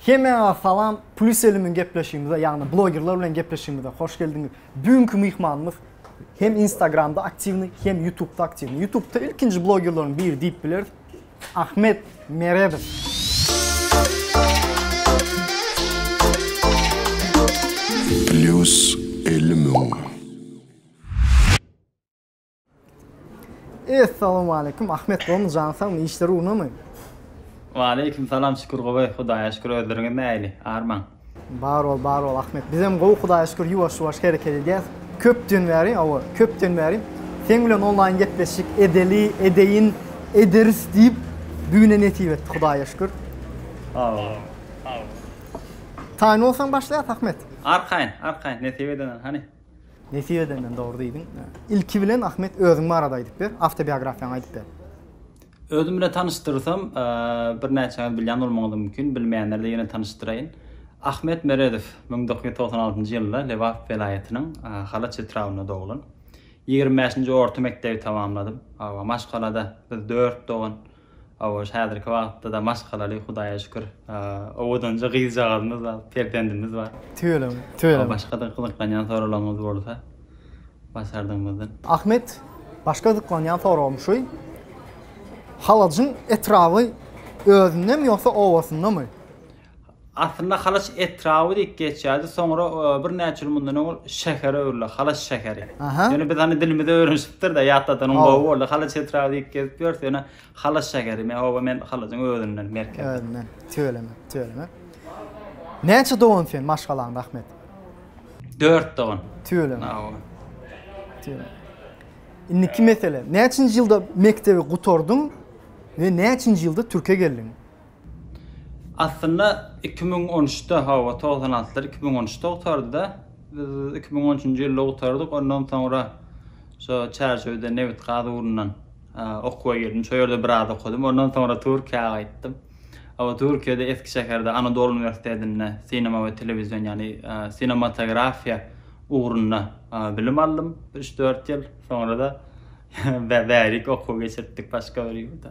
Hemmäňize salam Plus Elimiň gepleşigimize ýagny blogerler bilen gepleşigimize hoş geldiňiz. Bu günki myhmanymyz hem instagramda aktiwny hem ýutubda aktiwny. Ýutubda ilkinji blogerleriň biri diýip bileris. Ahmet Meredow. Plus Elimiň. Essalamu aleýkum Ahmet gowymy jany sagmy işler ugrunamy? Waleýkim salam şükür gowy Hudaýa şükür özleriňiz näili armaň? Bar bol bar bol Ahmet bizem gowy Hudaýa şükür ýuwaş ýuwaş hereket edýäs köpden bäri hawa köpden bäri seň bilen onlaýn gepleşik edeli edeýin ederis diýip bu güne nesip etdi Hudaýa şükür. Hawa. Taýyn bolsaň başlaýas Ahmet. Arkaýyn arkaýyn nesip edenden hany. Nesip edenden dogry diýdiň. Ilki bilen Ahmet özüň barada aýdyp ber, awtobiografiýaňy aýdyp ber. Özüm bilen tanyşdyrsam, birnäçäňiz bilýän bolmagyňyz mümkin, bilmeýänlere-de ýene tanyşdyraýyn. Ahmet Meredow müň dokuz ýüz togsan altynjy ýylda Lebap welaýatynyň Halaç etrabynda doglan. Ýigrimi bäşinji orta mekdebi tamamladym. Maşgalada biz dört dogan Hawa, şu häzirki wagtda-da maşgalaly, Hudaýa şükür. Owadanja gyzjagazymyz bar, perzendimiz bar. Tüweleme, tüweleme. Başga-da gyzyklanýan soraglaryňyz bolsa, başardygymyzdan. Ahmet, başga gyzyklanýan soragym şu, Halajyň etraby özündemi ýogsa owasyndamy? Aslynda Halaç etraby diýip geçýärdi, soňra birnäçe ýyl mundan owal şähere öwrüldi, Halaç şäheri. Ýöne biz hany dilimize öwrenişipdir-de, ýatladanyň gowy boldy. Halaç etraby diýip gezip ýörüs, ýöne Halaç şäheri. Men oba men Halajyň özünden, merkezden. Özünden. Tüweleme, tüweleme. Näçe dogan sen maşgalaň Rahmet? Dört dogan. Tüweleme. Tüweleme. Indiki mesele. Näçinji ýylda mekdebi gutardyň we näçinji ýylda Türkiýe geldiň? Aslynda iki müň on üçde hawa togsan altylar iki müň on üçde gutardyda. Biz iki müň on üçünji ýylda gutardyk. Ondan soňra şo Çärjewde nebit-gaz ugrundan okuwa girdim. Şo ýerde biraz okadym. Ondan soňra Türkiýä gaýtdym. Hawa Türkiýede Eskişeherde Anadolu uniwersitetinde sinema we telewizion ýagny sinematografiýa ugrunda bilim aldym bir üç-dört ýyl. Soňra-da bärik okuw geçirtdik başga bir ýurda.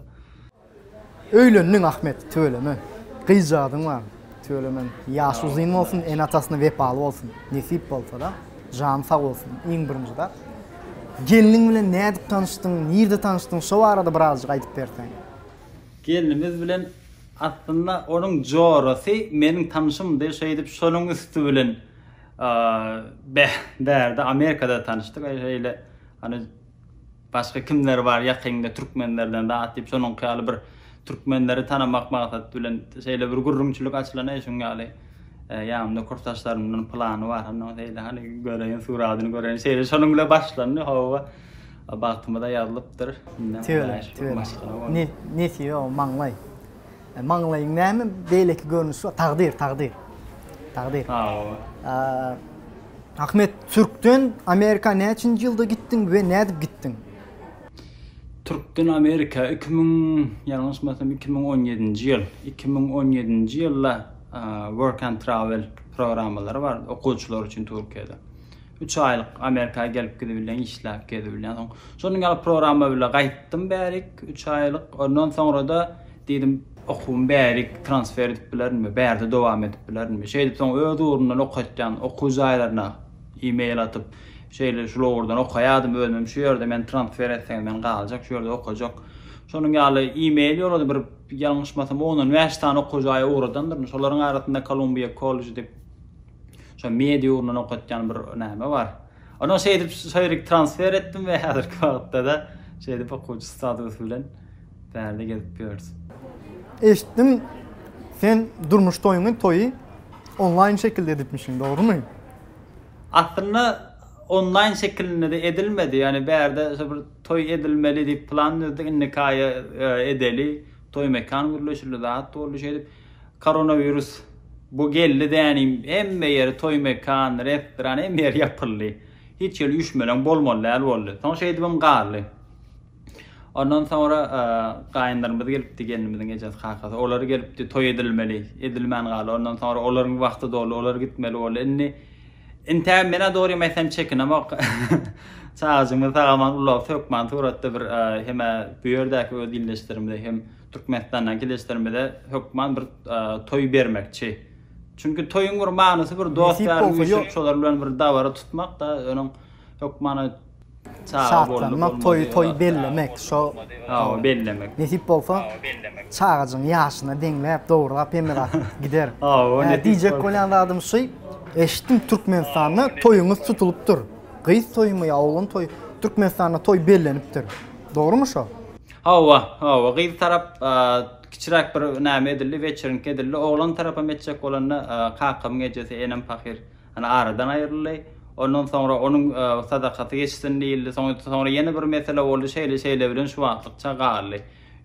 Öýlendiň Ahmet, tüweleme. Gyzjagazyň bar, tüweleme. Ýaşy uzyn bolsun, ene-atasyna wepaly bolsun. Nesip bolsa-da, jany sag bolsun, iň birinji zat. Gelniň bilen nädip tanyşdyň, nirde tanyşdyň, şo barada birazjyk aýdyp berseň? Gelnimiz bilen aslynda onuň jorasy meniň tanşymdy, şeýdip şonuň üsti bilen bärde Amerikada tanyşdyk. Şeýle, hany Başga kimler bar ýakynda türkmenlerden zat diýip şonuňky ýaly bir türkmenleri tanamak maksat bilen şeýle bir gürrüňçilik açylan eý şuň ýaly ýanymda kursdaşlarymdan pylany bar hany şeýle hany göreýin suradyny göreýin şeýle şonuň bilen başlandy hawa bagtymyza ýazlypdyr indem hudaýa şükür maşgala bolduk. Nesi ýok maňlaý. E, maňlaýyň näme beýleki görnüşi bar? Takdyr, takdyr. Takdyr. Ha, o. Ahmet, Türkden Amerika näçinji ýylda gitdiň we nädip gitdiň? Türkden Amerika 2000, ýalňyşmasam 2017-nji ýyl. 2017-nji ýylda Work and Travel programmalary bar okuwçylar üçin Türkiýede. Üç aýlyk Amerika gelip gidibilýän, işläp gezibilýän. Soň şonuň ýaly programma bile gaýtdym bärik, üç aýlyk. Ondan soňra-da diýdim, okuwymy bärik transfer edip bilerinmi, bärde dowam edip bilerinmi. Şeýdip soň öz ugrundan okatýan okuw jaýlaryna e-mail atyp, şeýle şul ugurdan okaýardym, özümem şu ýerde meni transfer etseňiz men galjak, şu ýerde okajak. Şonuň ýaly e-mail ýolladyp bir ýalňyşmasam on-on bäş sany okuw jaýa ugradandyryn. Şolaryň arasynda Kolumbiýa kolleji diýip, Şo media ugrundan okatýan bir näme bar. Ondan şeýdip şeýrik transfer etdim we häzirki wagtda-da şeýdip okuwçy statusy bilen bärde gezip ýörüs. Eşitdim, sen durmuş toýuňy toýy onlaýn şekilde edipmişiň, dogrumy? Aslynda onlaýn şekilinde-de edilmedi. Ýagny bärde şo bir toý edilmeli diýip plan düzdük, indiki aýa edeli, toý mekan gürleşildi, zat boldy şeýdip. Koronawirus bu geldi däni hemme ýeri toý mekan, restoran hemme ýeri ýapyldy. Hiç ýeri üşmeleň bolmaly däl boldy. Soň şeýdibem galdy. Ondan soňra gaýynlarymyz gelipdi, gelnimiziň ejesi, kakasy. Olar gelipdi, toý edilmeli. Edilmän galdy. Ondan soňra olaryň wagty doldy, olar gitmeli boldy. Indi intägem men-ä dogrym aýtsam çekinemok. Çagajygymyzy sag-aman ulag, hökman suratda bir hem-ä bu ýerdäki öz ildeşlerimize hem Türkmenistandan keleşlerimize hökman bir toý bermekçi. Çünki toýuň bir manysy bir dost ýar üýşüp şolar bilen bir dabara tutmakda öňüň hökmany Şatlanmak, toýy toý bellemek, şo Hawa, bellemek. Nesip bolsa, bellemek. Çagajygyň ýaşyna deňläp, dograp hemme zat gider. Hawa, nesip. Diýjek bolýan zadym şu, eşitdim Türkmenistanda toýuňyz tutulypdyr. Gyz toýumy ýa oglan toýy? Türkmenistanda toý bellenipdir. Dogrumy şo? Hawa, hawa, gyz tarap kiçiräk bir näme edildi, weçerink edildi. Oglan tarapam etjek bolanda, kakamyň ejesi, enem pahyr ýa-da aradan aýryldy. Ondan soňra onuň sadakasy geçsin diýildi. Soňra ýene bir mesele boldy. Şeýle-şeýle bilen şu wagtlykça galdy.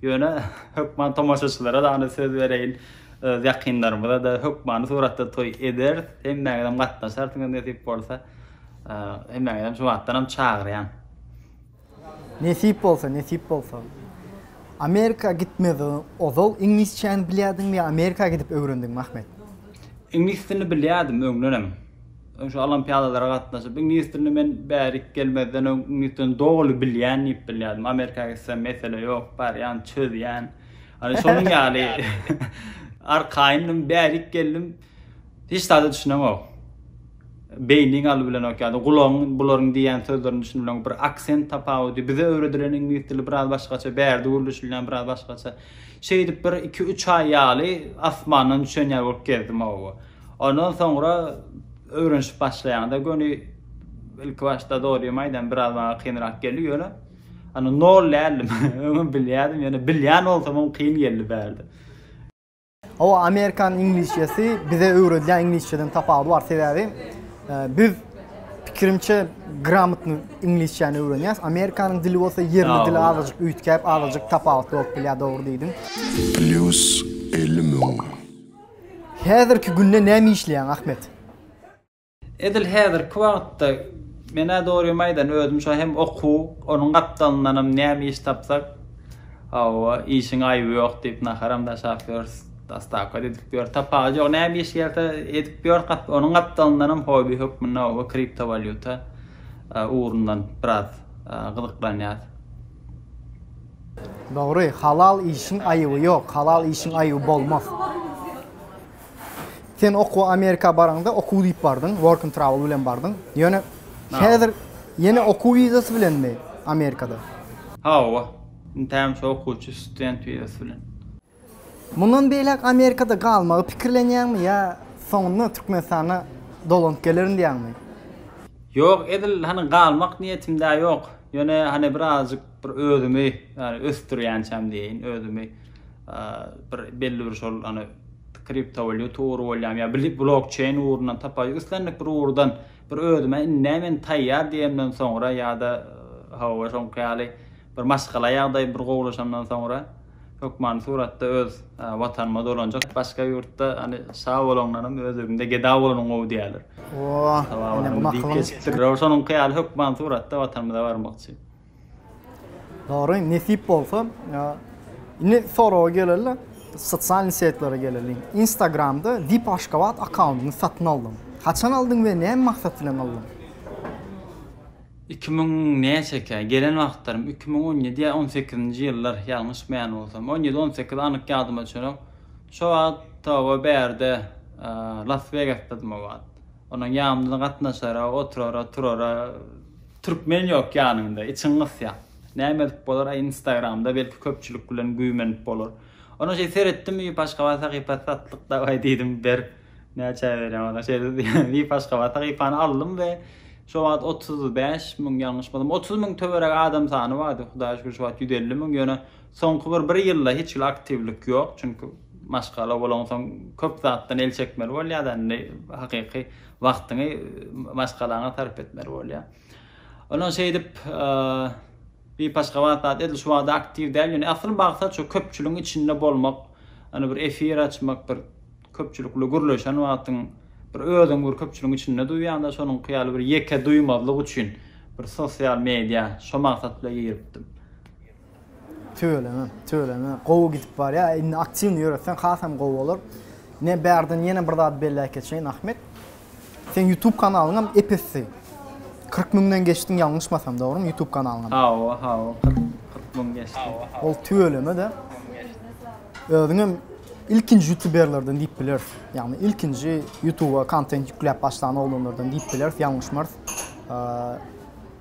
Ýöne hökman tomaşaçylara dagny söz bereýin, öz ýakynlarymyza-da hökmany suratda toý ederis. Hemmäňizem gatnaşarsyňyz nesip bolsa. Hemmäňizem şu wagtdanam çagyrýan. Nesip bolsa, nesip bolsa. Amerika gitmezden ozal iňlisçäni bilýärdiňmi ýa Amerika gidip öwrendiňmi Ahmet? Iňlis dilini bilýärdim öňdenem. Öň şu olimpiadalara gatnaşyp iňlis dilini men bärik gelmezden öň iňlis dilini doly bilýän diýip bilýärdim. Amerika gitsem mesele ýok, barýan, çözýän. Hany şonuň ýaly arkaýyndym, bärik geldim. Hiç zada düşüneňok. Beýniň aly bilenok ýa-da gulagyň bularyň diýýän sözlerini düşünip bilenok. Bir aksent tapawudy. Bize öwredilen iňlis dili biraz başgaça, bärde gürleşilýän biraz başgaça. Şeýdip bir iki-üç aý ýaly asmandan düşen ýaly bolup gezdim oba. Ondan soňra öwrenişip başlaýaňda göni ilki başda dogrymy aýdan biraz maňa kynrak geldi ýöne Ony nol däldim. Öňem bilýärdim, ýöne bilýän bolsamam kyn geldi bärde. Hawa, amerikan iňlisçesi bize öwredýän iňlisçeden tapawudy bar, sebäbi biz pikirimçe gramotny iňlisçäni öwrenýäs. Amerikanyň dili bolsa ýerli dil azajyk üýtgäp, azajyk tapawutly bolup bilýär, dogry diýdiň. Plýus elli müň. Häzirki günde näme işleýäň, Ahmet? Edil häzirki wagtda, men-ä dogrymy aýdan, özüm şo hem okuw, onuň gapdalyndanam näme iş tapsak, hawa, işiň aýby ýok diýip, naharam daşap ýörüs, dostawka-da edip ýörüs. Tapagy ýok, näme iş gelse, edip ýörüs. Onuň gapdalyndanam hobby hökmünde, hawa, kriptowalýuta ugrundan biraz gyzyklanýas. Dogry, halal işiň aýby ýok, halal işiň aýby bolmaz. Sen okuwa Amerika baraňda okuw diýip bardyň, work and travel bilen bardyň. Ýöne häzir ýene okuw wizasy bilenmi Amerikada? Hawa. Indi hämişe okuwçy, student wizasy bilen. Mundan beýläk Amerikada galmagy pikirlenýäňmi ýa soňunda Türkmenistana dolanyp gelerin diýýäňmi? Ýok, edil hany galmak niýetim-de ýok. Ýöne hany birazajyk Bir özümi ýany ösdürýänçäm diýeýin, özümi bir belli bir şol ony kriptowalýuta ugry bolýarmy ýa bili blokçeýn ugrundan tapaýa islendik bir ugurdan bir özüme indä men taýýar diýemden soňra ýa-da hawa şoňky ýaly bir maşgala ýagdaý bir gowulaşandan soňra hökmany suratda öz Watanyma dolanjak. Başga ýurtda ony şa bolaňdanam öz öýüňde geda bolanyň gowy diýerler. Ooo, ine bu makylyň. Şonuňky ýaly hökmany suratda Watanymyza barmakçy. Dogry, nesip bolsa, indi soraga geleli, sosial setlere geleli. Instagramda VIP Aşgabat akkauntyny satyn aldym. Haçan aldyň we näme maksat bilen aldyň? Iki müň näçe ekä, gelen wagtlarym iki müň on ýedi ýa on sekizinji ýyllar, ýalňyşmaýan bolsam. On ýedi, on sekiz anyk ýadyma düşenok. Şo wagt toba bärde Las Wegasdadym o wagt. Onuň ýamyna gatnaşara, oturara, turara. Türkmen ýok ýanyňda, içiň gysýa. Näme edip bolar-a instagramda belki köpçülik bilen güýmenip bolar. Ondan şeý seretdim Wiip Aşgabat sahypasy satlyk daway diýdim ber näçä berýäň ondan şeý dedi Wiip Aşgabat sahypany aldym we şo wagt otuz bäş müň ýalňyşmasam otuz müň töweregi adam sany bardy hudaýa şükür şu wagt ýüz elli müň ýöne Soňky bir bir ýylda hiç hili aktiwlik ýok, çünki maşgala bolansoň köp zatdan el çekmeli bolýar-da, indi hakyky wagtyňy maşgalaňa sarp etmeli bolýar. Ondan şeýdip, Bip Aşgabat zat edil şu wagda aktiw däl, ýöne asyl maksat şu köpçüligiň içinde bolmak, ýöne bir efir açmak, bir köpçülik bilen gürleşen wagtyň bir özüňi bir köpçüligiň içinde duýýaň-da, şonuňky ýaly bir ýeke duýmazlyk üçin bir sosial media, şo maksat bilen giripdim. Tüweleme, tüweleme. Gowy gidip barýa. Indi aktiwny ýöretseň hasam gowy bolar. Men bärden ýene bir zat belläp geçeýin, Ahmet. Seň YouTube kanalyň hem epesdi. Kyrk müňden geçdiň ýalňyşmasam, dogrymy? YouTube kanalyň hem. Hawa, hawa, kyrk müň geçdi. Ol tüweleme-de. Özüň hem ilkinji ýutuberlerden diýip bileris. Ýagny ilkinji YouTuba kontent ýükläp başlan oglanlardan diýip bileris, ýalňyşmarys.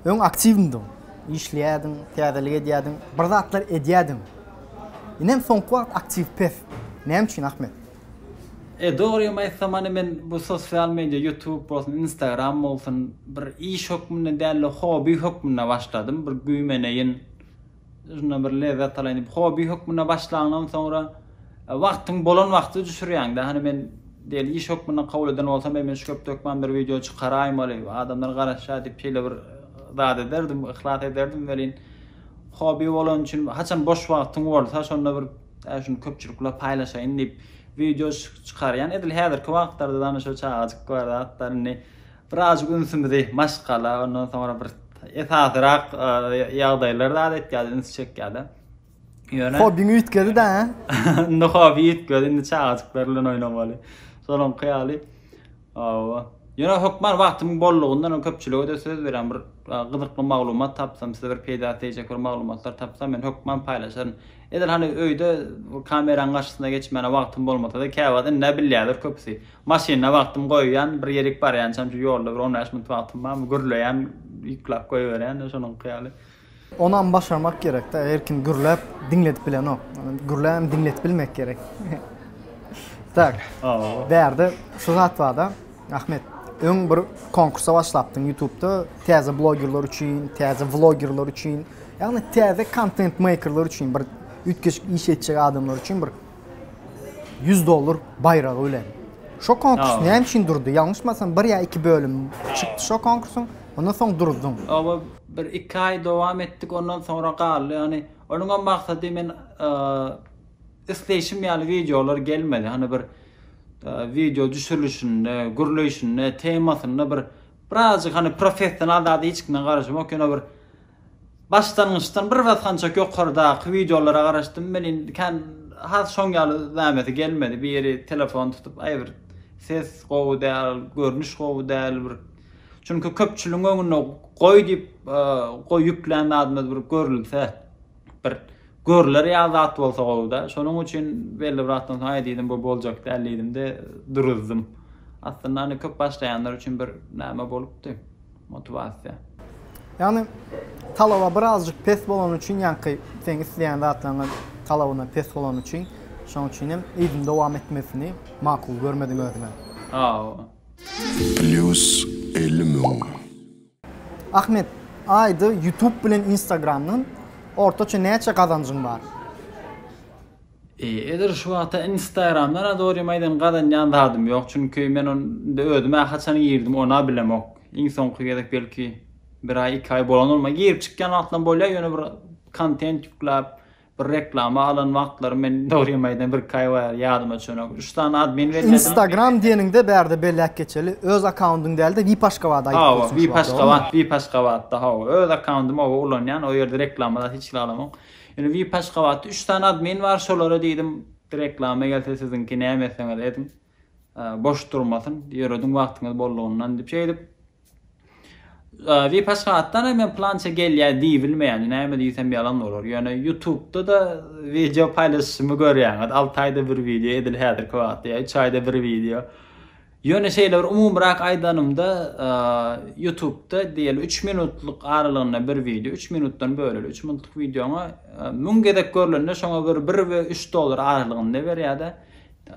Öň aktiwmydyň? Işleýärdiň, täzelik edýärdiň, bir zatlar edýärdiň. Inem soňky wagt aktiw pes. Näme üçin Ahmet? E, dogrymy aýtsam, hany men bu sosial media, ýutub bolsun, instagram bolsun, bir iş hökmünde däl-de, hobi hökmünde başladym. Bir güýmeneýin. Şundan bir lezzet alaýyn diýip, hobi hökmünde başlaňdan soňra, wagtyň bolan wagty düşürýäň-dä. Hany men diýeli iş hökmünde kabul eden bolsam, eý men şu köpde hökman bir wideo çykaraýmaly, adamlar garaşýar diýip şeýle bir zat ederdim, yhlas ederdim welin, hobi bolany üçin haçan boş wagtyň bolsa, şonda bir äý şuny köpçülikle paýlaşaýyn diýip wideo çykarýan. Edil häzirki wagtlarda-da hany şu çagajyk bar zatlar indi Birazajyk ünsümizi maşgala, ondan soňra bir esasyrak ýagdaýlar zat etýärdi, üns çekýärdi. Ýöne hobiňi üýtgedi-dä. Indi hobi üýtgedi, indi çagajyklar bilen oýnamaly. Şonuňky ýaly. Awa. Ýöne hökman wagtymyň bollugyndan köpçülige de söz berýän bir gyzykly maglumat tapsam, size bir peýda teýjek bir maglumatlar tapsam, men hökman paýlaşaryn. Edil hany öýde kameranyň garşysyna geçmäne wagtym bolmasa-da, käwagt indi bilýärler köpüsi. Maşyna wagtym goýýan, bir ýerik barýançam şu ýolda bir on bäş minut wagtym barmy, gürleýän, ýyklap goýberýän-de şonuňky ýaly. Onam başarmak gerek-dä, her kim gürläp diňledip bilenok. Gürlänem diňledip bilmek gerek. Tak, bärde şu zat bar-da, Ahmet, öň bir konkursa başlapdyň ýutubda, täze blogerler üçin, täze vlogerler üçin, ýagny täze kontent-meýkerler üçin, bir üýtgeşik iş etjek adamlar üçin bir 100 dollar baýragy bilen. Şo konkurs näme üçin durdy? Ýalňyşmasam bir ýa iki bölüm çykdy şo konkursyň, ondan soň duruzdyň. Oba bir iki aý dowam etdik ondan soňra galdy ýagny onuňam maksady men isleýşim ýaly wideolar gelmedi hany bir wideo düşürilişinde gürleýşinde temasynda bir birazjyk hany professional zada hiç kimden garaşamok ýöne bir Başlangyçdan bir basgançak ýokardaky wideolara garaşdym welin kän has şoň ýaly nämesi gelmedi biri telefon tutup aý bir ses gowy däl görnüş gowy däl bir çünki köpçüligiň öňünde goý diýip goý ýüklän zadymyz bir görülse bir görler ýaly zat bolsa gowuda şonuň üçin belli bir wagtdan soň aý diýdim bu boljak däl diýdimde duruzdym aslynda köp başlaýanlar üçin bir näme bolupdy. motiwasiýa. Ýagny talaba birazjyk pes bolany üçin ýaňky seň isleýän zatlaryňa talabyna pes bolany üçin şoň üçin hem yzyny dowam etmesini makul görmediň özüňe. Hawa. Plýus elli müň. Ahmet aýda ýutub bilen instagramdan ortaça näçe gazanjyň bar? Ezer şu wagta instagramda nadorym aýdan gazanýan zadym ýok çünki men onda özümä haçan girdim ona bilemok iň soňky gezek belki bir aý iki aý bolan bolmaly girip çykýan wagtlaram bolýar ýöne bir kontent ýükläp bir reklama alan wagtlarym men dogrymy aýdan bir iki aý bolýar ýadyma düşenok üç sany admin belledim. Instagram diýeniňde bärde belläp geçeli öz akkaundyň dälde vip aşgabat aýdyp dursuň şu wagt dogrymy? Hawa vip aşgabat vip aşgabatda hawa öz akkaundymy oba ulanýan o ýerde reklama zat hiç zat alamok Ýöne vip Aşgabatda üç sany admin bar şolara diýdim reklama gelse siziňki näme etseňiz ediň boş durmasyn ýörediň wagtyňyz bollugyndan diýip şeýdip vip Aşgabatdan hem men plança gelýär diýbilmeýän näme diýsem ýalan bolar ýöne ýutubda da wideo paýlaşyşymy görýäňiz alty aýda bir wideo edil häzirki wagtda ýa üç aýda bir wideo Ýöne şeýle bir umumyrak aýdanymda, Ýutubda diýeli üç minutlyk aralygynda bir wideo, üç minutdan böleli üç minutlyk wideoňa müň gezek görlende şoňa bir bir we üç dollar aralygynda berýärde.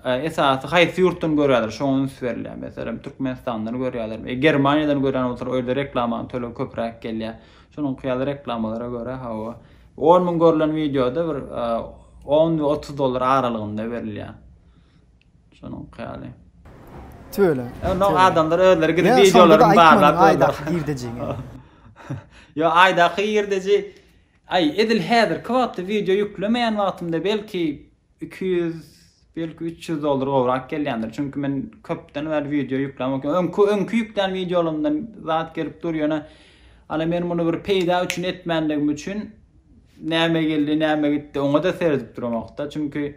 Esasy haýsy ýurtdan görýärler şoňa üns berilýär. Meselem Türkmenistandan görýärler. E Germaniýadan görýän bolsalar o ýerde reklamanyň tölegi köpräk gelýär. Şonuňky ýaly reklamalara görä hawa. On müň görlen wideoda bir on we otuz dollar aralygynda berilýär. Şonuňky ýaly. Tüweleme. Ýa adamlar özleri gidip wideolaryny barlap Aýdaky girdejiňi. Ýa Aýdaky girdeji Aý edil häzirki wagtda wideo ýüklemeýän wagtymda belki 200 belki 300 dollar gowrak gelýändir. Çünki men köpden bäri wideo ýüklämok. Öňki öňki ýüklän wideolarymdan zat gelip dur ýöne ala men muny bir peýda üçin etmänligim üçin näme geldi näme gitdi oňa-da seredip duramokda. Çünki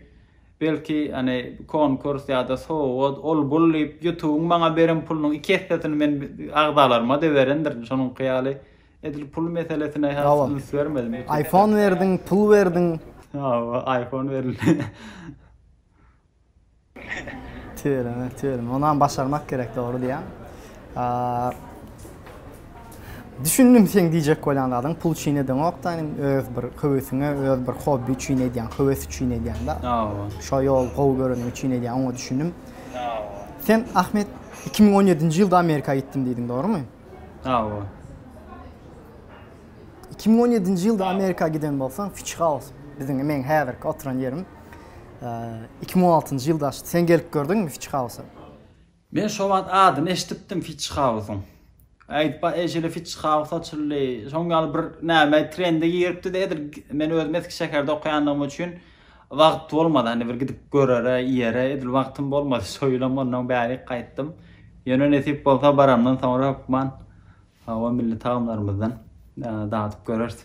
Belki, hany, konkurs ýa-da sowgat, ol-bul diýip, ýutubyň maňa beren pulunyň iki essesini men agzalaryma-da berendirin. Şonuňky ýaly, edil pul meselesine has üns bermedim. Hawa. Aýfon berdiň, pul berdiň. Hawa, aýfon berildi. Tüweleme, tüweleme. Onam başarmak gerek, dogry diýýäň. Düşündim seň diýjek bolýan zadyň pul üçin edeňokda ýanym öz bir höwesiňe öz bir hobby üçin edýäň höwes üçin edýäňda Hawa. Şo ýol gowy göreniň üçin edýäň oňa düşündim. Hawa. Sen Ahmet iki müň on ýedinji ýylda Amerika gitdim diýdiň dogrymy? Hawa. Iki müň on ýedinji ýylda Amerika giden bolsaň Fitch House biziň meň häzirki oturan ýerim iki müň on altynjy ýylda açdy. Sen gelip gördüňmi Fitch House-a? Men şo wagt adyny eşdipdim Fitchhausyň. Aýtba eý şeýle Fitchhaus açyldy, şoň ýaly bir näme trende giripdi-de edil men özüm eski şäherde okaýandygym üçin wagt bolmady hany bir gidip görere, iýere edil wagtym bolmady şo ýylam onnoň bärik gaýtdym. Ýöne nesip bolsa baramdan soňra hökman o milli tagamlarymyzdan dadyp göreris.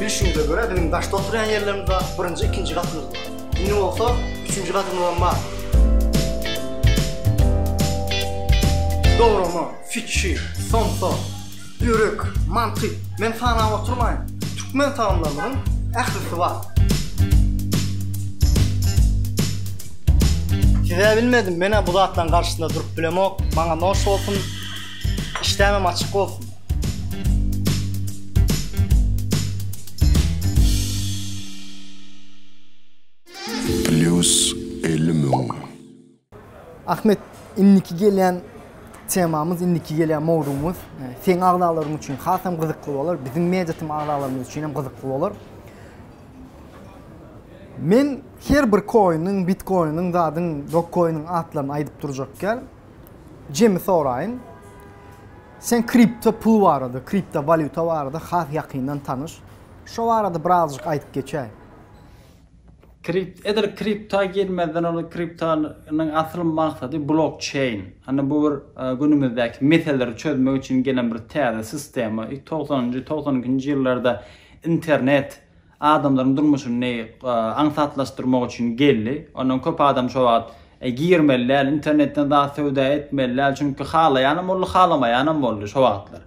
Bilşimize görä biziň daşda oturýan ýerlerimiz bar, birinji, ikinji gatymyz bar. Indi bolsa üçünji gatymyzam bar. Dograma, fitçi, somsa, börek, manty, men sanap oturmaýyn. Türkmen tagamlarymyzyň ählisi bar. Size bilmedim menä bu zatlaryň garşysynda durup bilemok maňa noş bolsun işdämem açyk bolsun. Plýus elli müň. Ahmet indiki gelýän temamyz indiki gelýän mowzugymyz seň agzalaryň üçin hasam gyzykly bolar biziň media tym agzalarymyz üçinem gyzykly bolar. Men her bir koiniň, bitkoiniň, zadyň, dokkoiniň atlaryny aýdyp durjak däl. Jemi soraýyn. Sen kripto pul barada, kripto walýuta barada has ýakyndan tanyş. Şo barada birazjyk aýdyp geçäý. Kript, edil kripta girmezden ozal kriptanyň asyl maksady blokçeýn. Hany bu bir günümizdäki meselleri çözmek üçin gelen bir täze sistema. Togsanynjy, togsan ikinji ýyllarda Internet adamlaryň durmuşyny aňsatlaşdyrmak üçin geldi. Ondan köp adam şo wagt girmeli däl, internetden zat söwda etmeli däl, çünki halaýanam boldy, halamaýanam boldy şo wagtlar.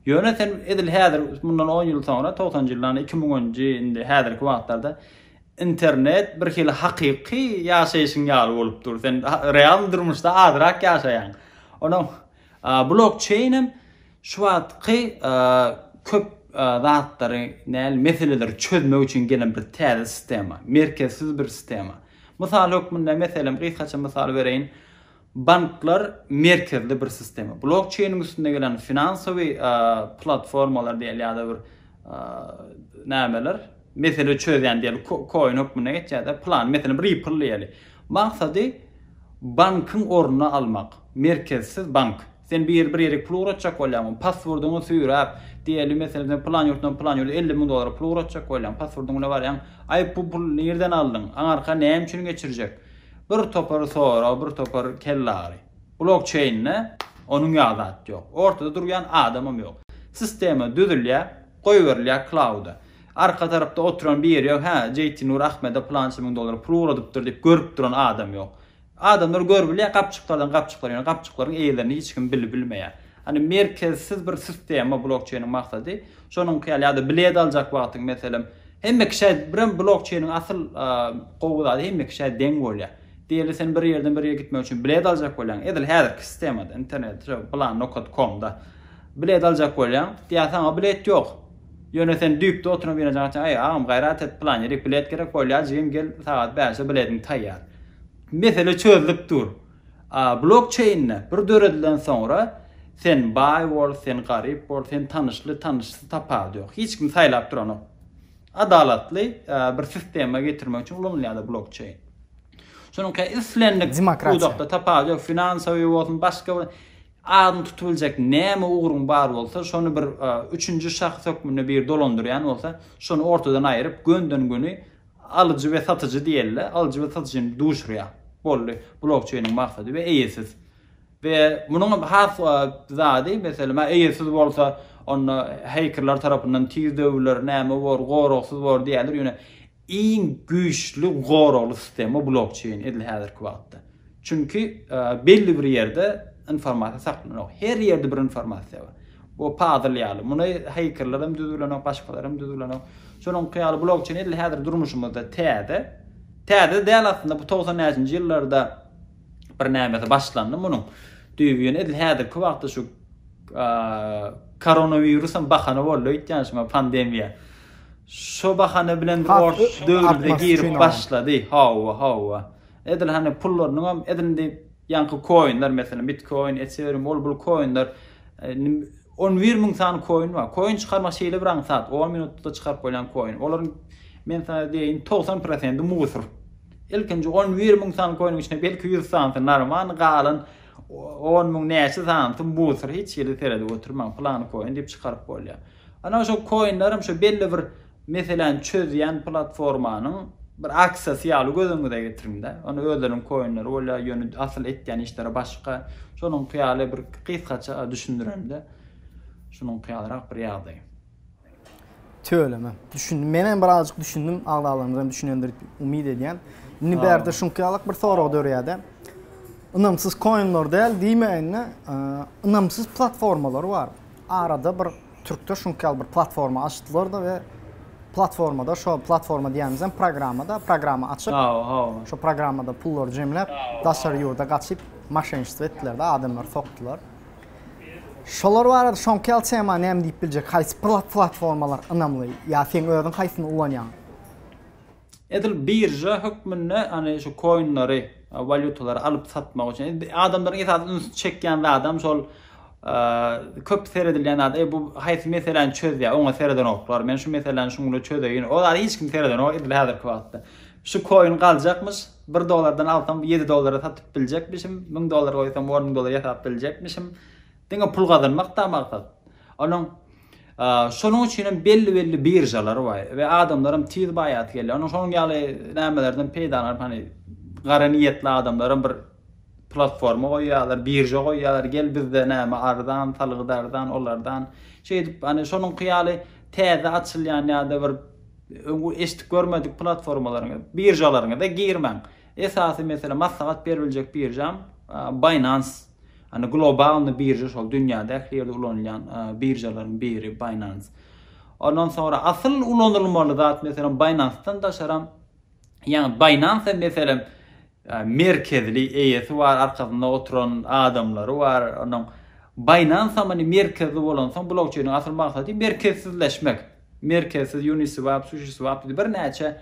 Ýöne sen edil häzir mundan on ýyl soňra, togsanjy ýyllarda, iki müňünji indi häzirki wagtlarda internet bir hili hakyky ýaşaýşyň ýaly bolup dur. Sen real durmuşda azrak ýaşaýaň. Ondan blokçeýnem Şu wagtky köp zatlary, näl, meseleleri çözmek üçin gelen bir täze sistema, merkezsiz bir sistema. Mysal hökmünde, meselem, gysgaça mysal bereýin, banklar merkezli bir sistema. Blokçeýniň üstünde gelen finansowy platformalar diýeli ýa-da bir nämeler, mesele çözýän diýeli koin hökmünde geçýär-de, plan, meselem, Ripple diýeli. Maksady bankyň ornuny almak, merkezsiz bank. Sen bir bir ýere pul ugratjak bolýaňmy? Passwordyňy süýräp, diýeli, meselem, sen pylan ýurtdan pylan ýurda elli müň dollara pul ugratjak bolýaň. Passwordyň bilen barýaň. Aý, bu puly nirden aldyň? Aňarka näme üçin geçirjek? Bir topar sorag, bir topar kellagyry. Blokçeýnde onuň ýaly zat ýok. Ortada durýan adamam ýok. Sistema düzülýär, goýberilýär klauda. Arka tarapda oturan biri ýok. Hä, JT Nur Ahmede pylança müň dollara pul ugradypdyr diýip görüp duran adam ýok. Adamlar görüp bilýär, gapjyklardan gapjyklar, ýöne gapjyklaryň eýelerini hiç kim bilip bilmeýär. Hany merkezsiz bir sistema blokçeýniň maksady, şonuňky ýaly ýa-da bilet aljak wagtyň meselem, hemme kişä birem blokçeýniň asyl gowy zady hemme kişä deň bolýar. Diýeli sen bir ýerden bir ýere gitmek üçin bilet aljak bolýaň, edil häzirki sistemada, internet, şo, plan nokat komda bilet aljak bolýaň, diýýär saňa bilet ýok. Ýöne sen düýpde oturan binajaň açaň, Äý, agam, gaýrat et, pylan ýerik bilet gerek, Bolýar, jigim, gel, sagat bäşe bilediň taýýar. Mesele çözlüp dur. A blokçeýnde bir döredilen soňra, sen baý bol, sen garyp bol, sen tanyşly, tanyşsyz tapawudy ýok. Hiç kim saýlap duranok. Adalatly bir sistema getirmek üçin ulanylýar-da blokçeýn. Şonuň islendik pudakda tapawudy ýok, finansawyý bolsun, başga bir. Adyny tutubiljek näme ugruň bar bolsa, şony bir üçünji şahs hökmünde biri dolandyrýan bolsa, şony ortadan aýyryp, gönden-göni alyjy we satyjy diýeli-de, alyjy we satyjyny duşurýar. Boldy. Blokçeýniň maksady we eýesiz. We munuň has zady, meselem, eýesiz bolsa, onda hekerler tarapyndan tiz döwüler, näme bor, goragsyz bor diýerler, ýöne iň güýçli goragly sistema blokçeýn edil häzirki wagtda. Çünki belli bir ýerde informasiýa saklanok. Her ýerde bir informasiýa bar. Bu puzzle ýaly. Muny hakerler hem düzüp bilenok, başgalar hem düzüp bilenok. Şonuňky ýaly blokçeýn edil häzir durmuşymyzda täze. Täze däl aslynda bu togsan näçinji ýyllarda birnämesi başlandy munuň. Düýbi ýöne edil häzirki wagtda şu koronawirus hem bahana boldy öýtýän şuňa pandemiýa. Şu bahana bilen ors döwrüne girip başlady. Hawa, hawa. Edil hany pullarynyň hem edil indi ýaňky koinler meselem bitkoin, ethereum ol bul koinler 11 müň sany koin bar. Koin çykarmak şeýle bir aňsat, 10 minutda çykaryp bolýan koin. Olaryň men sana diýeýin 90% musur. Ilkinji on bir müň sany koýnuň içinde belki ýüz sanysy narman galan on müň näçe sanysy musor hiç hili seredip oturmaň pylany koýun diýip çykaryp bolýar. Ana şo koýunlarym şo belli bir meseläni çözýän platformanyň bir aksiýasy ýaly göz öňüňize getiriňdä. Onda özleriniň koýunlary bolýar ýöne asyl etýän işleri başga. Şonuňky ýaly bir gysgaça düşündiremde şunuňky ýalyrak bir ýagdaý. Tüweleme. Düşündim. Men hem birazjyk düşündim. Agzalarymyz hem düşünendir diýip umyt edýän. Indi bärde şuňky ýalak bir sorag dörýär-de. Ynamsyz koinler däl diýmäýin-de, ynamsyz platformalar bar. Arada bir türkde şuňky ýaly bir platforma açdylar-da we platformada şo platforma diýýänimiz hem programma-da, programma açyp, şo programmada pullary jemläp, daşary ýurda gaçyp, maşenniçtwo etdiler-de, adamlary sokdular. Şolar barada soňky ýaly tema näme diýip biljek? Haýsy platformalar ynamly ýa seň özüň haýsyny ulanýaň? Edil birža hökmünde hany şu koinleri, walýutalary alyp satmak üçin. Adamlaryň esasy üns çekýän zadam şol köp seredilýän zat. Eý bu haýsy meseläni çözýär? Oňa seredenoklar. Men şu meseläni şuňa çözeýin. Ol zady hiç kim seredenok edil häzirki wagtda. Şu koin galjakmyş? Bir dollardan alsam ýedi dollara satyp biljekmişim, müň dollar goýsam on müň dollar ýasap biljekmişim. Diňe pul gazanmak-da maksat. Onuň şonuň üçin hem belli-belli biržalary bar we adamlaram tiz baýasy gelýär. Onuň şonuň ýaly nämelerden peýdalanyp, hany gara niýetli adamlaram bir platforma goýýarlar, birža goýýarlar. Gel bizde näme arzan, salgyt arzan, olardan. Şeýdip, hany şonuňky ýaly täze açylýan ýa-da bir Öňki eşidip görmedik platformalaryňyz, biržalaryňyza girmäň. Esasy mesele maslahat berip biljek biržam Binance. Hani globalny birža şol dünýäde ähli ýerde ulanylýan biržalaryň biri Binance. Ondan soňra asyl ulanylmaly zat meselem Binance-dan daşaram Ýagny Binance meselem merkezli eýesi bar, arkasynda oturan adamlary bar. Onuň Binance many merkezli bolansoň blockchainiň asyl maksady merkezsizleşmek. Merkezsiz Uniswap, Sushiswap diýip birnäçe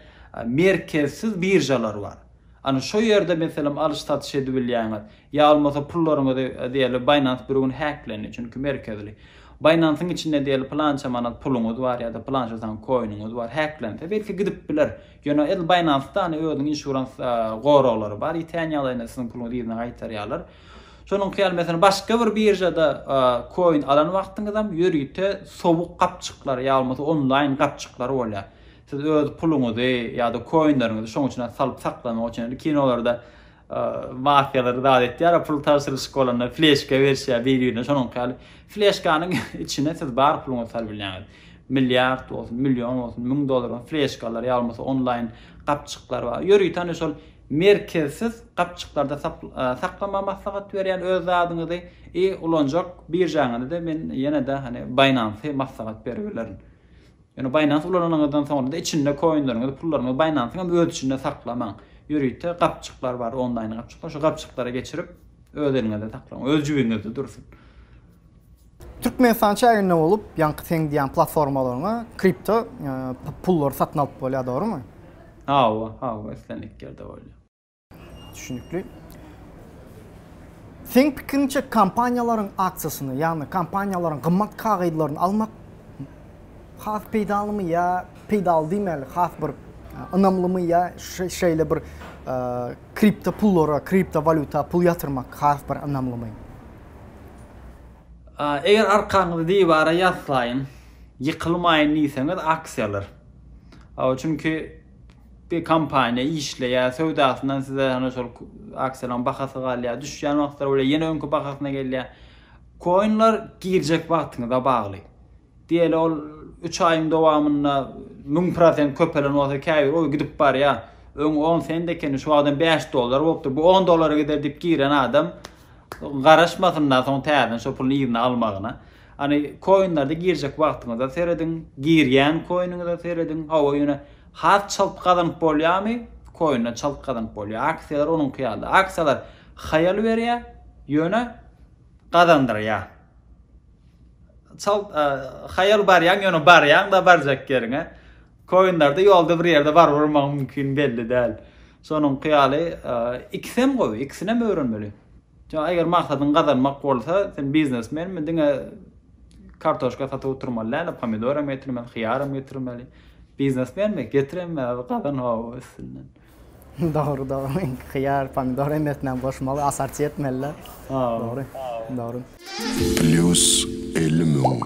merkezsiz biržalar bar. Ana şo ýerde meselem alyş-satyş edibilýäňiz. Ýa bolmasa pullaryňyzy diýeli Binance bir gün häklendi, çünki merkezli. Binance-yň içinde diýeli pylança manat puluňyz bar ýa-da pylança sany koiniňiz bar, häklense, belki gidip biler. Ýöne edil Binance-da hany özüniň insurans goraglary bar, ýitýän ýagdaýynda siziň puluňyzy yzyna gaýtarýarlar. Şonuňky ýaly, meselem, başga bir biržada koin alan wagtyňyzam ýörite sowuk gapjyklar ýa bolmasa onlaýn gapjyklar bolýar. Siz öz puluňyzy ýa-da koinleriňizi şoň içine salyp saklamak üçin, kinolarda mafiýalary zat etýär pul tabşyryşyk bolanda fleşka berişýär bir birine şonuňky ýaly fleşkanyň içine siz bar puluňyzy salyp bilýäňiz milliard bolsun million bolsun müň dollaryň fleşkalary ýa bolmasa onlaýn gapjyklar bar ýörüten şol merkezsiz gapjyklarda saklamagy maslahat berýän öz zadyňyzy i ulanjak biržaňyzy da men ýene-de hani baýnansy maslahat berip bilerin Ýöne Binance ulananyňyzdan soňra-da içinde koinleriňizi, pullaryňyzy Binance-yň hem öz içinde saklamaň. Ýörite gapjyklar bar, onlaýn gapjyklar. Şo gapjyklara geçirip, öz eliňizde saklaň. Öz jibiňizde dursun. Türkmenistan çäginde bolup, ýaňky seň diýýän platformalaryňa kripto pullary satyn alyp bolýar, dogrumy? Hawa, hawa, islendik ýerde bolýar. Düşünükli. Seň pikiriňçe kompaniýalaryň aksiýasyny, ýagny kompaniýalaryň gymmat kagyzlaryny almak has peýdalymy ýa peýdaly diýmeli, has bir e, ynamlymy ýa şeýle bir e, kripto pullara, kripto walýuta pul ýatyrmak has bir ynamlymy? Eger arkaňyzy diwara ýaslaýyň, ýykylmaýyn diýseňiz aksiýalar. Çünki Bir kompaniýa işleýär, söwdasyndan size ýöne şol aksiýalaryň bahasy galýar, düşýän wagtlary bolýar, ýene öňki bahasyna gelýär. Koinler girjek wagtyňyza bagly. Diýeli ol üç aýyň dowamynda müň prosent köpelen bolsa käbir oý gidip barýar. Öň on sent ekeni, şu wagtam bäş dollar bolupdyr. Bu on dollara gider diýip giren adam garaşmasynda soň täzeden şo puluny yzyna almagyna. Hany koinlerde girjek wagtyňyza serediň, girýän koiniňize serediň, hawa ýöne has çalt gazanyp bolýamy, koinden çalt gazanyp bolýar, aksiýalar onuňky ýaly, aksiýalar haýal berýär, ýöne gazandyrýar, çalt haýal barýaň ýöne barýaňda barjak ýeriňe, koinlerde ýolda bir ýerde baryp urmagyň mümkin belli däl, şonuňky ýaly ikisem gowy, ikisinem öwrenmeli. Jan eger maksadyň gazanmak bolsa sen biznesmenmi diňe kartoşka satyp oturmaly däl pomidor hem getirmeli hyýar hem getirmeli biznesmenmi getir hem gazan hawa üstünden. Dogry dogry hyýar pomidor hemmesinem goşmaly asarçy etmeli däl dogry dogry. Plýus elli müň.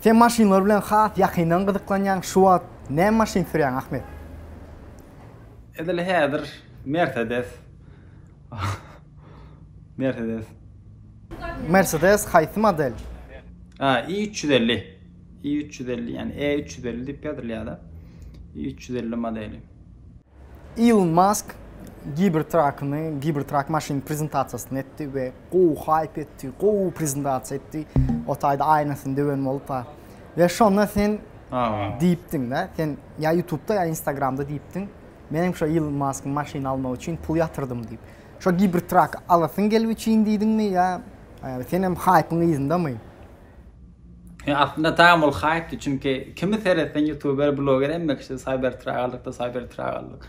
Sen maşynlar bilen has ýakyndan gyzyklanýaň şu wagt näme maşyn sürýäň Ahmet? Edil häzir Mercedes. Mercedes. Mercedes haýsy model? Ha, i 350. i 350, ýani E 350 diýip ýazylýar-da. i 350 modeli. Elon Musk Cybertruck-ny, Cybertruck maşynyny prezentasiýasyny etdi we gowy haýp etdi, gowy prezentasiýa etdi. O taýda aýnasyny döwen bolup ha. We şonda sen diýipdiň-de, sen ýa YouTube-da ýa Instagram-da diýipdiň. Menem şo Ilon Maskyň maşyny almak üçin pul ýatyrdym diýip. Şo Gibertrak alasyň gelip üçin diýdiňmi ýa senem haýpyň yzyndamy? Ýa aslynda tam ol haýpdy çünki kimi seretseň ýutuber bloger hemme kişi Cybertrak aldykda Cybertrak aldyk.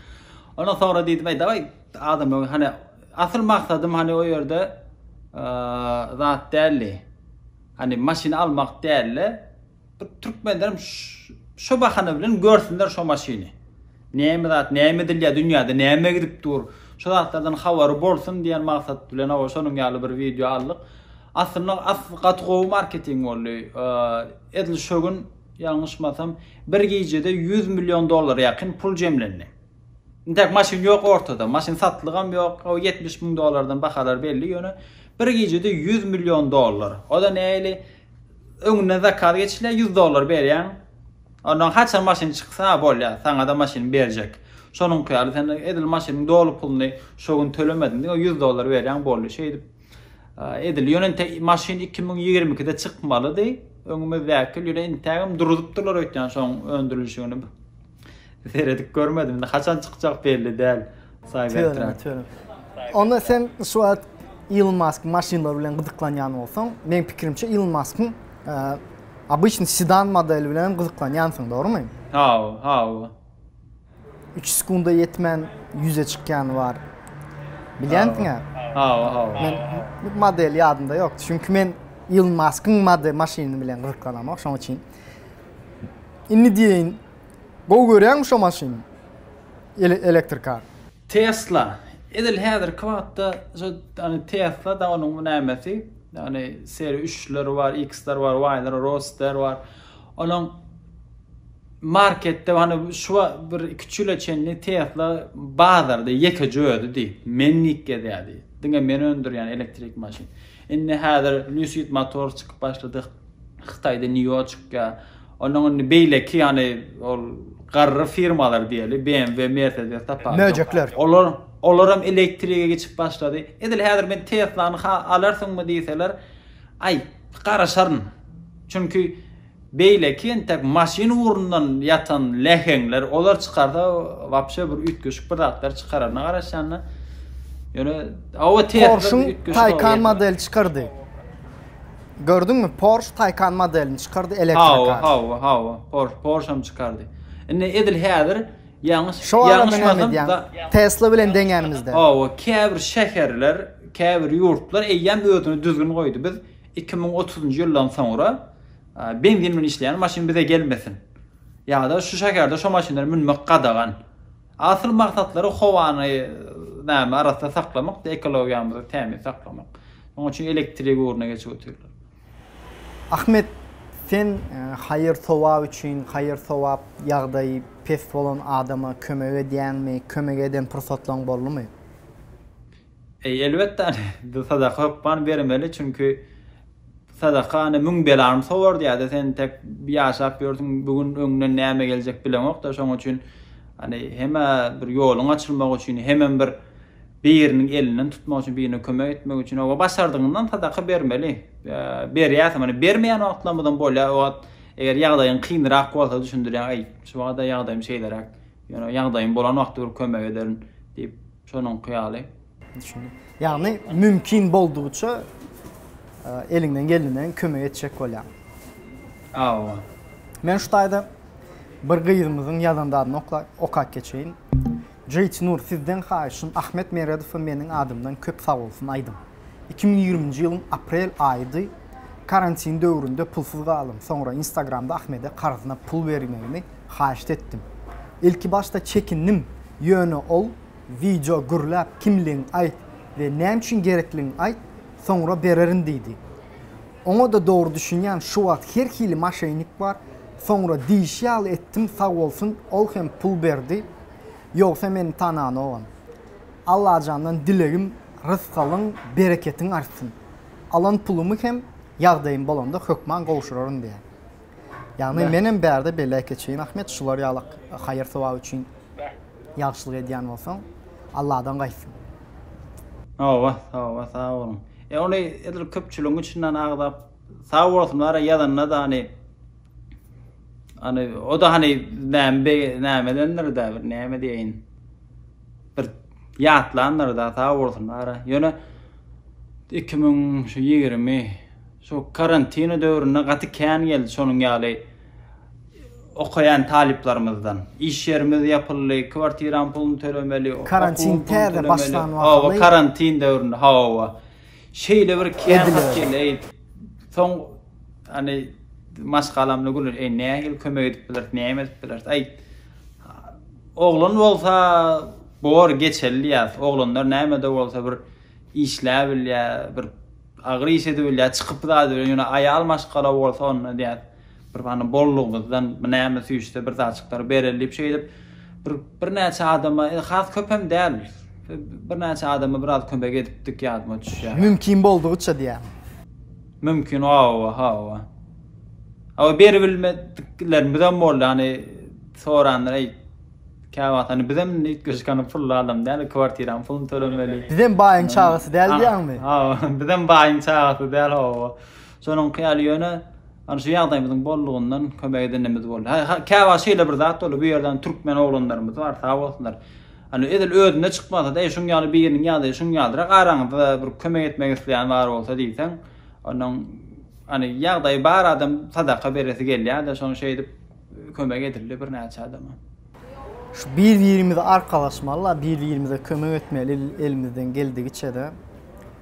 Ondan soňra diýdim eý dawaý adamlaryň hany asyl maksadym hany o ýerde zat däldi. Hany maşyny almak dälde. Bir türkmenlerim şo bahana bilen görsünler şo maşyny. Näme zat, näme edilýär dünýäde, näme gidip dur. Şo zatlardan habary bolsun diýen maksat bilen hawa şonuň ýaly bir wideo aldyk. Aslynda asly gaty gowy marketing boldy. Edil şo gün ýalňyşmasam bir gijede 100 million dollara ýakyn pul jemlendi. Intäk maşyn ýok ortada, maşyn satlygam ýok. Hawa 70 müň dollardan bahalar belli ýöne bir gijede 100 million dollar. O-da nähili Öňünden zakaz geçilýär, ýüz dollar berýäň. Ondan haçan maşyn çyksa bolýar, saňa-da maşyny berjek. Şonuňky ýaly, sen edil maşynyň doly puluny şo gün tölemediň diýip, ýüz dollar berýäň, boldy. Şeýdip edil. Ýöne inte maşyn iki müň ýigrimi ikide çykmalydy. Öňümizdäki ýyl ýöne intägem duruzypdyrlar öýtýän şoň öndürilişigini. Seredip görmedim indi haçan çykjak belli däl Cybertruck. Onda sen şu wagt Elon Musk maşynlar bilen gyzyklanýan bolsaň, meň pikirimçe Elon Muskyň обычный sedan modeli bilen gyzyklanýansyň, dogrumy? Hawa, hawa. Üç sekunda ýetmän ýüze çykýany bar. Bilýänsiň-ä? Hawa, hawa. Men model ýadymda ýok. Çünki men Elon Muskyň maşyny bilen gyzyklanamok, şonuň üçin. Indi diýeýin gowy görýäňmi şo maşyny? Elektrikar. Tesla. Edil häzirki wagtda şo ýagny Tesla-da onuň bu nämesi, ýagny seri üçleri bar, iksleri bar, waýlary, roadster bar. Onuň marketde hany şu bir iki-üç ýyla çenli Tesla bazarda ýekeje özi diý. Menlik gezýärdi. Diňe men öndürýän elektrik maşyn. Indi häzir Lucid Motors çykyp başlady. Hytaýda Nýu-Ýoçkýa, onnoň indi beýleki ýany ol garry firmalar diýeli, BMW, Mercedes tapar. Möjekler. Olar, olaram elektrige geçip başlady. Edil häzir men Teslany ha alarsyňmy diýseler, aý, garaşaryn. Çünki beýleki entek maşyn ugrundan ýatan läheňler, olar çykarsa wapşe bir üýtgeşik bir zatlar çykararyna garaşýan-da. Ýöne, awa Tesla üýtgeşik. Porsche-yň Taycan modeli çykardy. Gördüňmi Porsche Taycan modelini çykardy elektro kar. Hawa hawa hawa Porsche Porschem çykardy. Indi edil häzir ýalňyş ýalňyşmasam Tesla bilen deňänimizde. Hawa käbir şäherler käbir ýurtlar eýýäm özüne düzgün goýdy biz iki müň otuzynjy ýyldan soňra benzin bilen işleýän maşyn bize gelmesin. Ýada şu şäherde şu maşynlara münmek gadagan. Asyl maksatlary howany näme arassa saklamakdy, ekologiýamyzy tämiz saklamak. Şonuň üçin elektrik ugruna geçip otyrlar. Ahmet, sen haýyr-sogap üçin, haýyr-sogap ýagdaýy pes bolan adama kömek edýäňmi, kömek eden pursatlaryň boldumy? Eý, elbetde, ane, biz sadaka hökman bermeli, çünki sadaka, ane, müň belany sowar diýýär-de, sen tek ýaşap ýörsüň, bu gün öňünden näme geljek bileňok-da, şonuň üçin, ane, hem-ä bir ýoluň açylmagy üçin, hemem bir biriniň elinden tutmak üçin, birine kömek etmek üçin, oba, başardygyňdan sadaka bermeli. Berýärsiňmi? Ane, bermeýän wagtlarymyzam bolýar, o wagt, eger ýagdaýyň kynrak bolsa, düşündirýäň, eý, şu wagta ýagdaýym şeýleräk, ýöne ýagdaýym bolan wagty bir kömek ederin diýip, şonuňky ýaly. Düşündim. Ýagny mümkin boldugyça eliňden geleninden kömek etjek bolýaň. Hawa. Men şu taýda bir gyzymyzyň ýazan zadyny okap geçeýin. Jeyt Nur sizden haýyşym Ahmet Meredowa meniň adymdan köp sag bolsun aýdyň. Iki müň ýigriminji ýylyň aprel aýydy. Karantin döwründe pulsuz galdym. Soňra Instagramda Ahmede karzyna pul bermegimi haýyşt etdim. Ilkibaşda çekindim, ýöne ol, Wideo gürläp, kimligiňi aýt we näme üçin gerekligini aýt, soňra bererin diýdi. Oňa-da dogry düşünýän, şu wagt her hili maşenik bar. Soňra diýişi ýaly etdim, sag bolsun, ol hem pul berdi. Ýogsa meni tananogam. Allajandan dilegim rysgalyň bereketiň artsyn. Alan pulumy hem ýagdaýym bolanda hökman gowşuraryn diýýän. Ýagny menem bärde beläý keçeýin Ahmet şular ýalak haýyr sowap üçin ýagşylyk edýän bolsaň Alladan gaýtsyn. Hawa hawa sag boluň. E ony edil köpçüligiň içinden agzap sag bolsun bara ýazanda da hany hany o da hany näme nämedendir da bir näme diýeýin. bir ýatlandyr da sag bolsun bara ýöne iki müň şu ýigrimi şu karantini döwründe gaty kän geldi şonuň ýaly okaýan talyplarymyzdan iş ýerimiz ýapyldy kwartiranyň puluny tölemeli karantin täze başlan wagty hawa karantin döwründe hawa şeýle bir kän hat geldi soň hani maşgalamda gülür eý nähili kömek edip bileris näme edip bileris aý Oglan bolsa bor geçeli diýýäs. Oglanlar näme-de bolsa bir işläp bilýär, bir agyr iş edip bilýär, çykyp zat bilen ýöne aýal maşgala bolsa onda diýýäs. Bir bana bollugymyzdan näme süýşse bir zatjyklary bereli diýip şeýdip bir birnäçe adama, has köp hem däl. Birnäçe adama biraz kömek edipdik ýadyma düşýär. Mümkin boldugyça diýýärmi? Mümkin hawa hawa. Hawa beri bilmediklerimizem boldy hani soranlar eý käwagt hani bizem üýtgeşikany pully adam däl kwartiranyň puluny tölemeli. Bizem baýyň çagasy däl diýýäňmi? Hawa bizem baýyň çagasy däl hawa. Şonuňky ýaly ýöne hani şu ýagdaýymyzyň boldugyndan kömek edenimiz boldy. Käwagt şeýle bir zat boldy bu ýerde türkmen oglanlarymyz bar sag bolsunlar. Ony edil özüne çykmasa-da, eý, şuň ýaly biriniň ýagdaýy şuň ýalydyr-a, araňyzda bir kömek etmek isleýän bar bolsa diýseň, onuň, hany, ýagdaýy bar adam sadaka beresi gelýär-de, şony şeýdip kömek edildi birnäçe adama. Şu bir-birimize arkalaşmaly-la, bir-birimize kömek etmeli elimizden geldigiçe-de.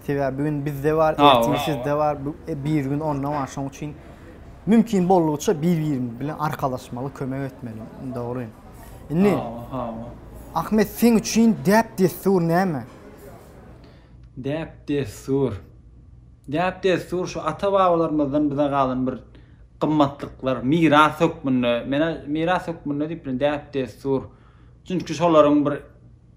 Sebäbi bu gün bizde bar, ertir sizde bar, bir gün onda bar. Şoň üçin mümkin boldugyça bir-birimiz bilen arkalaşmaly, kömek etmeli. Dogry. Indi Hawa, hawa. Ahmet seň üçin däp-dessur näme? Däp-dessur. Däp-dessur şu ata-babalarymyzdan bize galan bir gymmatlyklar, miras hökmünde. Men-ä miras hökmünde diýip bilän, däp-dessur. Çünki şolaryň bir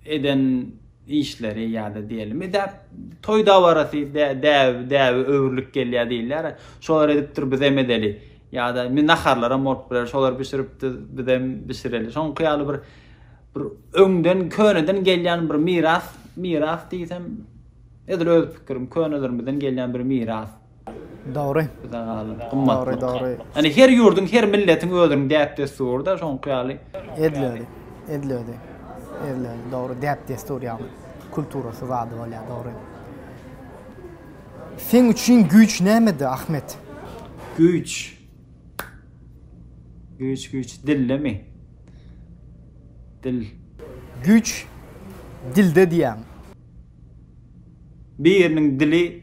eden işleri ýa-da diýelim, däp, toý dabarasy däbe, däbe öwrülip gelýär diýilýär. Şolar edipdir, bizem edeli. Ýa-da indi naharlaram bolup biler, şolar bişiripdir, bizem bişireli. Şoňky ýaly bir bir öňden, köneden gelýän bir miras, miras diýsem, edil öz pikirim, könelerimizden gelýän bir miras. Dogry. Dogry, dogry. Ýani her ýurduň, her milletiň özüniň däp-dessury-da şoňky ýaly. Edilýärdi. Edilýärdi. Edilýärdi. Dogry, däp-dessur ýagny kulturasy zady bolýar, dogry. Seň üçin güýç nämede, Ahmet? Güýç. Güýç, güýç. Dildemi? Dil. Güýç dilde diýýäň. Biriniň dili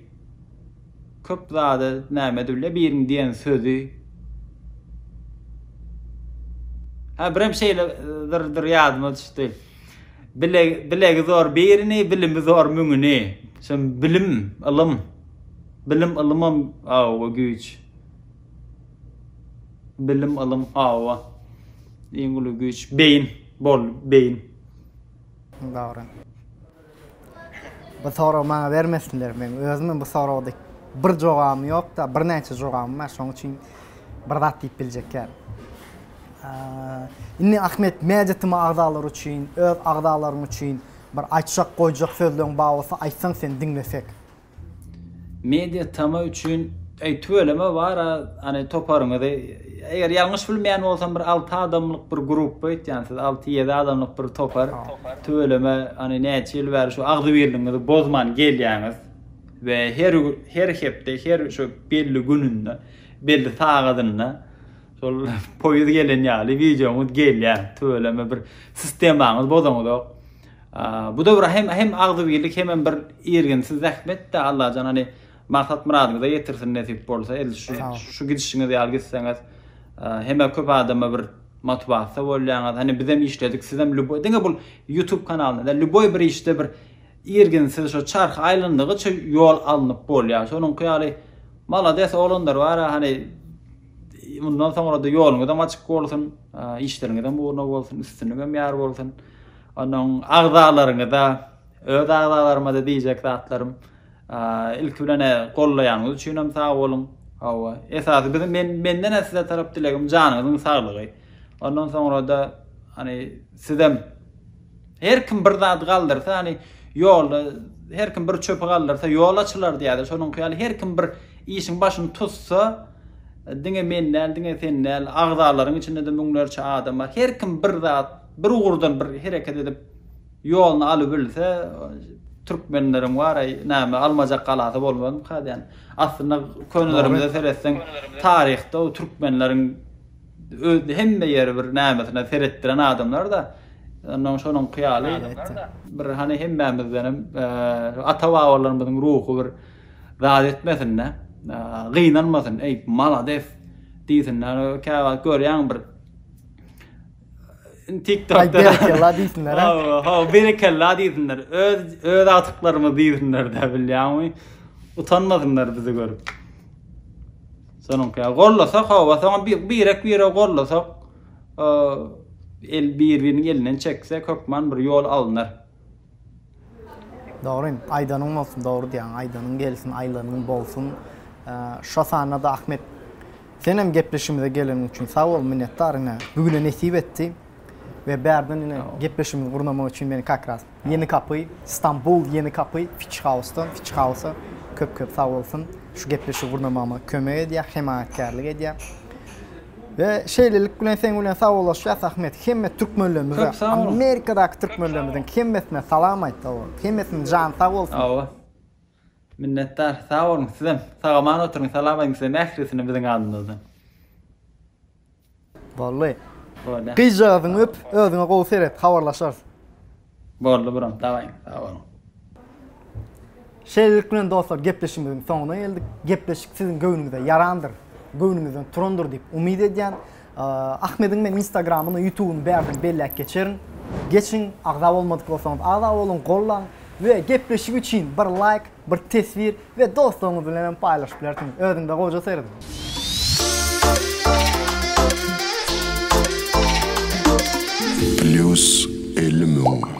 köp zada näme dille biriniň diýen sözi Hä birem şeýle zyrdyr ýadyma düşdi. Bile bilegi zor birini, bilimi zor müňüni. Şem bilim, ylym. Bilim ylymam awa güýç. Bilim ylym awa. Iň uly güýç beýin, bol beýin. Dogry. Bu soragy maňa bermesinler. Men özümem bu soragda bir jogabym ýok-da, birnäçe jogabym bar. Şonuň üçin bir zat diýip biljek däl. Indi Ahmet Mäjitimi agzalary üçin, öz agzalaryň üçin bir aýtjak, goýjak sözleň bar bolsa aýtsaň sen diňlesek. Media tama üçin eý tüweleme bara any toparyňyzy eger ýalňyş bilmeýän bolsam bir alty adamlyk bir grup öýtýän siz alty ýedi adamlyk bir topar tüweleme any näçe ýyl bäri şu agzybirligiňizi bozman gelýäňiz we her her hepde her şu belli gününde belli sagadynda şol poýuz gelen ýaly wideoňyz gelýär tüweleme bir sistemaňyz bozaňyzok Bu döwür hem hem agzybirlik hemem bir irginsiz zähmetde Allajan hany maksat myradyňyza ýetirsin nesip bolsa edil şu şu gidişiňiz ýaly gitseňiz heme köp adama bir motiwasiýa bolýaňyz hany bizem işledik sizem lüboý diňe bul ýutub kanalyna däl lüboý bir işde bir irginsiz şo çarh aýlandygyça ýol alnyp bolýar şonuňky ýaly malades oglanlar bar hany mundan soňra-da ýoluňyzam açyk bolsun işleriňizem ugruna bolsun üstünligem ýar bolsun. Onuň agzalaryňyza, öz agzalarymada diýjek zatlarym, ilki bilen gollaýanyňyz üçin hem sag boluň. Hawa, esasy biziň men menden hem size tarap dilegim janyňyzyň saglygy. Ondan soňra-da hani sizem her kim bir zat galdyrsa, hani ýolda her kim bir çöpi galdyrsa ýol açylar diýýärler. Şonuň ýaly her kim bir işiň başyny tutsa, diňe men däl, diňe sen däl, agzalaryň içinde-de müňlerçe adam bar. Her kim bir zat Bir ugurdan bir hereket edip ýoluny alybilse türkmenleriň wara name almajak galasy bolmazmyka diýän. Aslynda könelerimize seretseň taryhda o türkmenleriň öz hemme ýeri bir namesine seretdiren adamlarda ondan şonuňky ýaly bir hany hemmämizdenem ata babalarymyzyň ruhy bir zat etmesinde gynanmasyn eý malades diýsinler käwagt görýäň bir TikTokda berekella diýsinler. Ha, berekella diýsinler. Öz öz agtyklarymyz diýsinler de bilýäňmi? Utanmasynlar bizi görüp. Sonuňky ya gollasak hava soňa bir birek bire gollasak el bir-biriniň elinden çekse kökman bir ýol alnar. Dogry, aýdanyň bolsun, dogry diýýäň, aýdanyň gelsin, aýlanyň bolsun. Şo sanda-da Ahmet, senem gepleşigimize geleniň üçin sag bol, minnetdar ine, bu güne nesip etdi we bärden ine gepleşigimizi gurnamak üçin meni kak ras Ýeni Kapy, Stambul Ýeni Kapy Fitch House-dan, Fitch House-a köp-köp sag bolsun, şu gepleşigi gurnamagyma kömek edýär, hemaýatkärlik edýär. We şeýlelik bilen seň bilen sagollaşýas Ahmet. Hemme türkmenlerimize, Amerikadaky türkmenlerimiziň hemmesine salam aýt sag bol. Hemmesiniň jany sag bolsun. Hawa. Minnetdar. Sag boluň sizem. Sagaman oturyň. Salam aýdyň sizem ählisine biziň adymyzdan. Bolly. Gyzjagazyňy öp, özüňe gowy seret, habarlaşarys. Boldy brom daway sag boluň. Şeýlelik bilen dostlar gepleşigimiziň soňuna geldik. Gepleşik siziň göwnüňize ýarandyr, göwnüňizden turandyr diýip umyt edýän. Ahmediň men instagramyny, ýutubyny bärden belläp geçerin. Geçiň, agza bolmadyk bolsaňyz agza boluň, gollaň we gepleşik üçin bir laýk Bir teswir we dostlaryňyz bilen hem paýlaşyp bilersiňiz. Özüňize gowyja serediň. Plus elli müň.